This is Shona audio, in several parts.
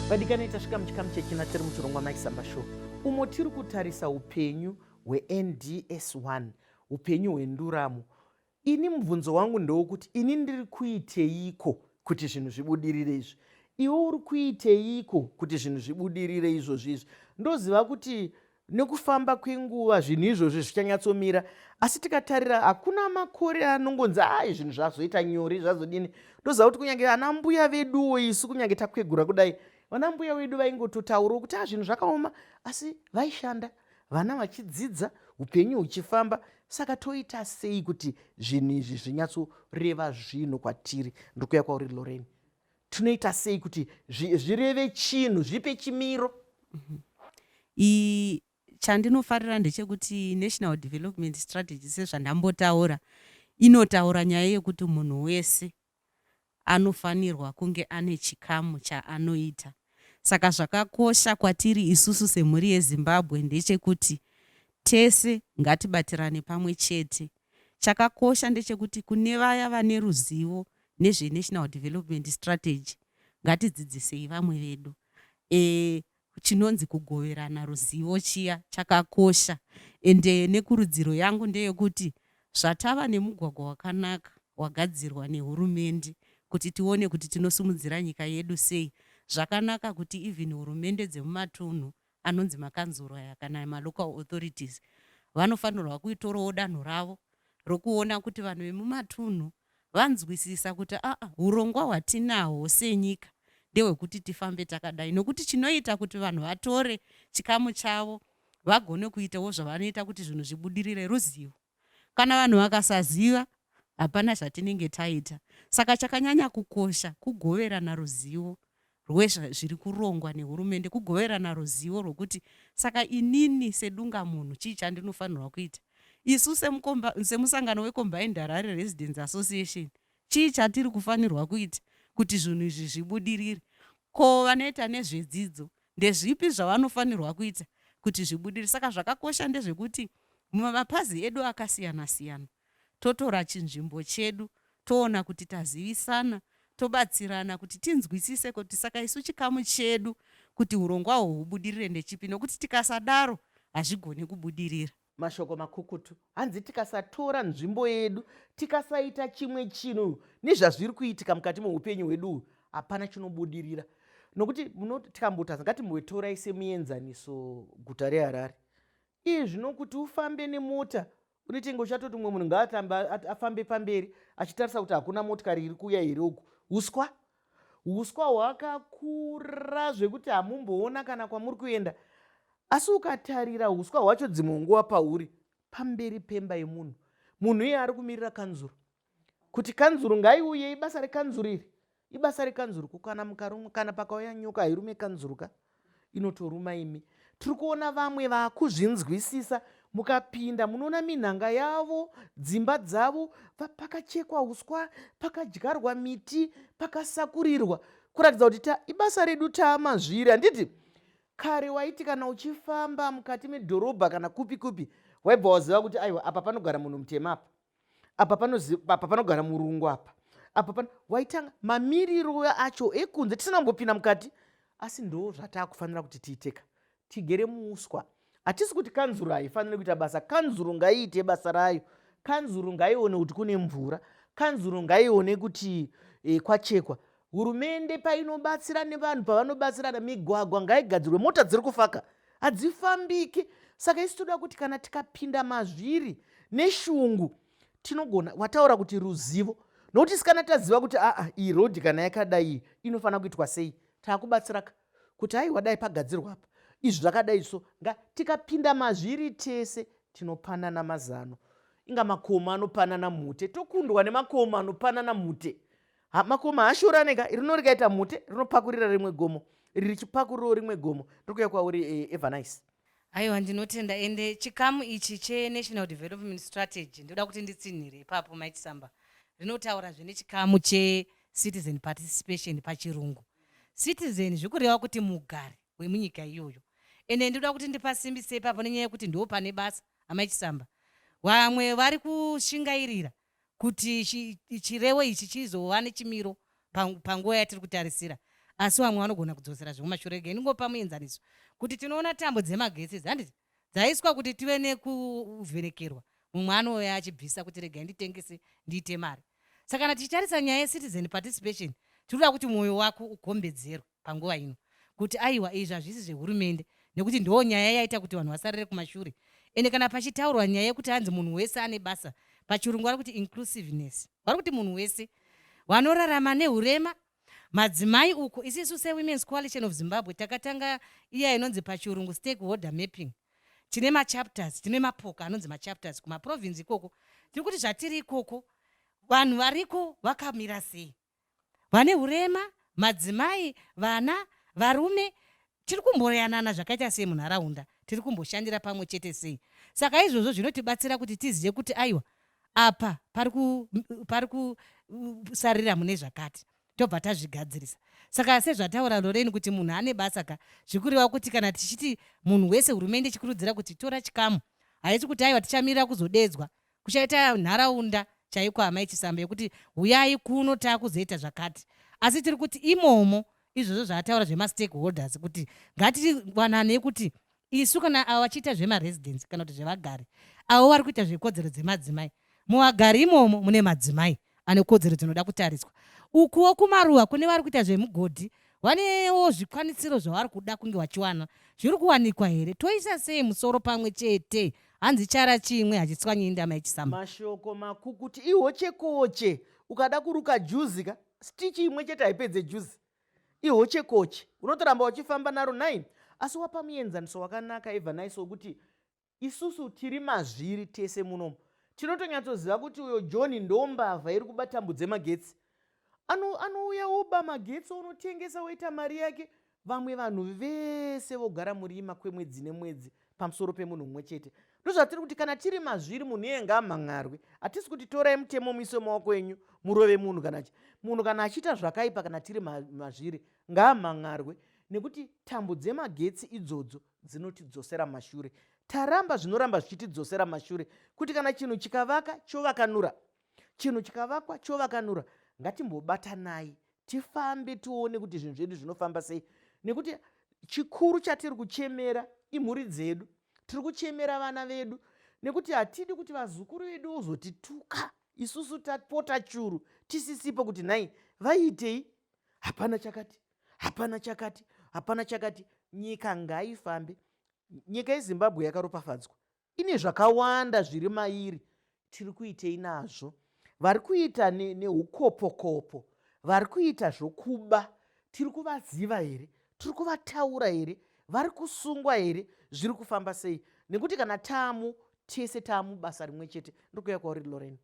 vadikani tasvika muchikamu chechina tiri muchirongwa mike samba show umo tiri kutarisa upenyu hwends 1 upenyu hwenduramo ini mubvunzo wangu ndewokuti ini ndiri kuiteiko kuti zvinhu zvibudirire izvi iwe uri kuiteiko kuti zvinhu zvibudirire izvozvi izvi ndoziva kuti Nekufamba kwenguva zvinhu izvozvi zvichanyatsomira, asi tikatarira hakuna makore anongonzi ai zvinhu zvazoita nyore zvazodini. Ndoziva kuti kunyange ana mbuya veduwo isu kunyange takwegura kudai, vana mbuya vedu vaingototaurawo kuti a ah, zvinhu zvakaoma, asi vaishanda vana vachidzidza upenyu huchifamba saka toita sei kuti zvinhu izvi zvinyatsoreva zvinhu kwatiri ndokuya kwauri loreni tinoita sei kuti zvireve chinhu zvipe chimiro iyi chandinofarira ndechekuti national development strategy sezvandambotaura inotaura nyaya yekuti munhu wese anofanirwa kunge ane chikamu chaanoita saka zvakakosha kwatiri isusu semhuri yezimbabwe ndechekuti tese ngatibatirane pamwe chete Chakakosha ndechekuti kune vaya vane ruzivo nezveNational Development Strategy ngatidzidzisei vamwe vedu. Eh, chinonzi kugoverana ruzivo chiya chakakosha and eh, nekurudziro yangu ndeyekuti zvatava nemugwagwa wakanaka wagadzirwa nehurumende kuti tione kuti tinosimudzira nyika yedu sei zvakanaka kuti even hurumende dzemumatunhu anonzi makanzuru aya kana malocal authorities vanofanirwa kuitorawo danho ravo rokuona kuti vanhu vemumatunhu vanzwisisa kuti aa urongwa hwatinahwo senyika ndehwekuti tifambe takadai nokuti chinoita kuti vanhu vatore chikamu chavo vagone kuitawo zvavanoita kuti zvinhu zvibudirire ruzivo Kana vanhu vakasaziva, hapana zvatinenge taita. Saka chakanyanya kukosha kugoverana ruzivo rwezviri kurongwa nehurumende, kugoverana ruzivo rwekuti saka inini sedungamunhu chii chandinofanirwa kuita. Isu semusangano weCombined Harare Residents Association, chii chatiri kufanirwa kuita kuti zvinhu izvi zvibudirire. Ko vanoita nezvedzidzo Ndezvipi zvavanofanirwa kuita kuti zvibudirire? Saka zvakakosha ndezvekuti mumapazi edu akasiyana siyana totora chinzvimbo chedu toona kuti tazivisana tobatsirana kuti tinzwisise kuti saka isu chikamu chedu kuti urongwa uhwu hubudirire ndechipi nokuti tikasadaro hazvigoni kubudirira. Mashoko makukutu hanzi tikasatora nzvimbo yedu tikasaita chimwe chinhu nezvazviri kuitika mukati meupenyu hwedu uhu hapana chinobudirira nokuti tikambotaza ngatimbotorai semuenzaniso guta reharare ii zvinokuti ufambe nemota unetenge uchatoti umwe munhu ngaatamba afambe pamberi achitarisa kuti hakuna motikari iri kuuya here uku uswa Huswa hwakakura zvekuti hamumboona kana kwamuri kuenda. Asi ukatarira huswa hwacho dzimwe nguva pahuri pamberi pemba yemunhu. Munhu iye ari kumirira kanzuru. Kuti kanzuru ngaiuye ibasa rekanzuru iri. Ibasa rekanzuru kukana mukarumwa kana pakauya nyoka hairume kanzuru ka. inotoruma imi tiri kuona vamwe vakuzvinzwisisa mukapinda munoona minhanga yavo dzimba dzavo pakachekwa uswa pakadyarwa miti pakasakurirwa kuratidza kuti ta ibasa redu taamazviri handiti kare waiti kana uchifamba mukati medhorobha kana kupi kupi waibva waziva kuti aiwa apa panogara munhu mutema apa apa apa panogara murungu apa apa pan waitanga mamiriro acho ekunze tisina kumbopinda mukati asi ndo zvataakufanira kuti tiiteka tigere muuswa hatisi kuti kanzuru haifanire kuita basa kanzuru ngaiite basa rayo kanzuru ngaione kuti kune mvura kanzuru ngaione kuti e, kwachekwa hurumende painobatsira nevanhu pavanobatsirana migwagwa ngaigadzirwe mota dziri kufaka hadzifambiki saka isi toda kuti kana tikapinda mazviri neshungu tinogona wataura kuti ruzivo nokuti sikana taziva kuti aa iyi rodhi kana yakadai iyi inofanira kuitwa sei taakubatsiraka kuti aiwa dai pagadzirwa apa izvi zvakadai so nga tikapinda mazviri tese tinopanana mazano inga makomo anopanana mhute tokundwa nemakomo anopanana mhute makoma haashorane ka rino rikaita mhute rinopakurira rimwe gomo iri richipakurirawo rimwe gomo rikuya kwauri e, evanice aiwa ndinotenda ende chikamu ichi chenational development strategy ndoda kuti nditsinhire ipapo mait samba rinotaura zvine chikamu checitizen participation pachirungu citizen zvikureva kuti mugari wemunyika iyoyo ende ndoda kuti ndipasimbise ipapo nenyaya yekuti ndo pane basa amai chisamba vamwe vari kushingairira kuti chirevo ichi chizova nechimiro panguva yatiri kutarisira asi vamwe vanogona kudzosera zviri kumashure rega ndingopa muenzaniso kuti tinoona tambo dzemagetsi idzi handiti dzaiswa kuti tive nekuvhenekerwa mumwe anouya achibvisa kuti rega nditengese ndiite mari saka kana tichitarisa nyaya yecitizen participation tiri kuda kuti mwoyo wako ugombedzerwe panguva ino kuti aiwa izvi hazvisi zvehurumende nekuti ndoo nyaya yaita kuti vanhu vasarire kumashure ende kana pachitaurwa nyaya yekuti hanzi munhu wese ane basa pachirungu vari kuti inclusiveness vari kuti munhu wese vanorarama neurema madzimai uko isisu sewomens coalition of zimbabwe takatanga iya inonzi pachirungu stakeholder mapping tine machapters tine mapoka anonzi machapters kumaprovince ikoko tiri kuti zvatiri ikoko vanhu variko vakamira sei vane hurema, madzimai, vana, varume, tiri kumboyanana zvakaita sei munharaunda, tiri kumboshandira pamwe chete sei. Saka izvozvo zvinotibatsira kuti tizive kuti aiwa apa pari kusarira mune zvakati tobva tazvigadzirisa. Saka sezvataura Lorraine kuti munhu ane basa ka, zvikureva kuti kana tichiti munhu wese hurumende ichikurudzira kuti tora chikamu, haisi kuti aiwa tichamirira kuzodeedzwa Kuchaita nharaunda chaiko amai Chisamba yekuti huyai kuno takuzoita zvakati asi tiri kuti imomo izvozvo zvaataura zvemastakeholders kuti ngatiwananei kuti isu kana avo vachiita zvemaresidence kana kuti zvevagari avo vari kuita zvekodzero dzemadzimai muvagari imomo mune madzimai ane kodzero dzinoda kutariswa. Ukuwo kumaruwa kune vari kuita zvemugodhi vanewo zvikwanisiro zvavari kuda kunge vachiwana. Zviri kuwanikwa here? Toisa sei musoro pamwe chete? Hanzi chara chimwe hachitswanyi indama yechisamba. Mashoko makukuti ihochekoche. Ukada kuruka juzi ka, stichi imwe chete haipedze juzi. Ihochekoche. Unotoramba uchifamba naro nhayi? Asi wapa muenzaniso wakanaka Evanaiso wekuti isusu tiri mazviri tese munomu tinotonyatsoziva kuti uyo john ndo mbavha iri kuba tambo dzemagetsi anouya ano oba magetsi onotengesa oita mari yake vamwe vanhu vese vogara murima kwemwedzi nemwedzi pamusoro pemunhu mumwe chete ndozvatiri kuti kana tiri mazviri munhu iye ngaamhan'arwe hatisi kuti torai mutemo muise maoko enyu murove munhu kana chi munhu kana achiita zvakaipa kana tiri mazviri ngaamhan'arwe nekuti tambo dzemagetsi idzodzo dzinotidzosera mashure taramba zvinoramba zvichitidzosera mashure kuti kana chinhu chikavaka chovakanura chinhu chikavakwa chovakanura ngatimbobatanai tifambe tione kuti zvinhu zvedu zvinofamba sei nekuti chikuru chatiri kuchemera imhuri dzedu tiri kuchemera vana vedu nekuti hatidi kuti vazukuru vedu vozotituka isusu tapota churu tisisipo kuti nhai vaiitei hapana chakati hapana chakati hapana chakati nyika ngaifambe nyika yezimbabwe yakaropafadzwa ine zvakawanda zviri mairi tiri kuitei nazvo vari kuita neukopokopo ne vari kuita zvokuba tiri kuvaziva here tiri kuvataura here vari kusungwa here zviri kufamba sei nekuti kana taamu tese taamu basa rimwe chete ndikuya kwauri loreni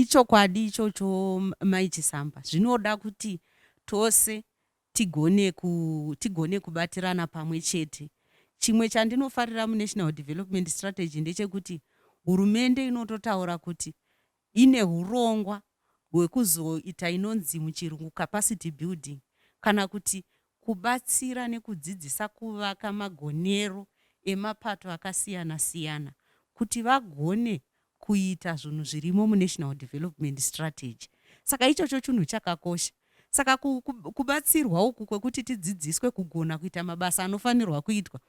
Ichokwadi ichocho mai Chisamba, zvinoda kuti tose tigone, ku, tigone kubatirana pamwe chete. Chimwe chandinofarira muNational Development Strategy ndechekuti hurumende inototaura kuti ine hurongwa hwekuzoita inonzi muchirungu capacity building kana kuti kubatsira nekudzidzisa kuvaka magonero emapato akasiyana siyana kuti vagone kuita zvunhu zvirimo muNational Development Strategy. Saka ichocho chunhu chakakosha. Saka kubatsirwa uku kwekuti tidzidziswe kugona kuita mabasa anofanirwa kuitwa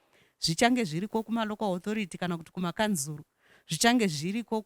zvichange zviriko kumalocal authority kana kuti kumakanzuru, zvichange zviriko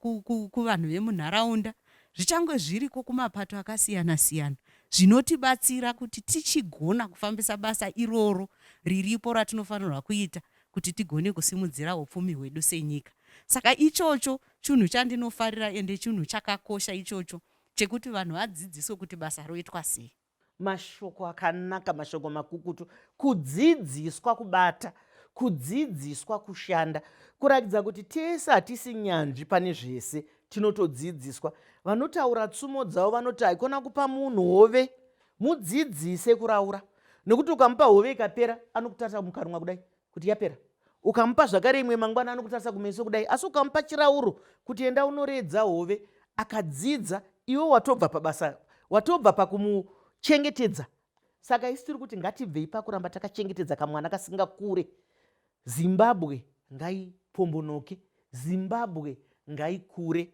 kuvanhu vemunharaunda, zvichange zviriko kumapato akasiyana siyana zvinotibatsira kuti tichigona kufambisa basa iroro riripo ratinofanirwa kuita kuti tigone kusimudzira upfumi hwedu senyika. Saka ichocho chunhu chandinofarira ende chunhu chakakosha ichocho chekuti vanhu vadzidziswe kuti basa roitwa sei. Mashoko akanaka, mashoko makukutu, kudzidziswa kubata, kudzidziswa kushanda, kuratidza kuti tese hatisi nyanzvi pane zvese, tinotodzidziswa. Vanotaura tsumo dzavo vanoti haikona kupa munhu hove Mudzidzise kuraura nokuti ukamupa hove ikapera anokutarisa mukanwa kudai kuti yapera. Ukamupa zvakare imwe mangwana anokutarisa kumeso kudai asi ukamupa chirauro kuti enda unoredza hove akadzidza iwe watobva pabasa watobva pakumuchengetedza saka isi tiri kuti ngatibvei pakuramba takachengetedza kamwana kasingakure zimbabwe ngaipombonoke zimbabwe ngaikure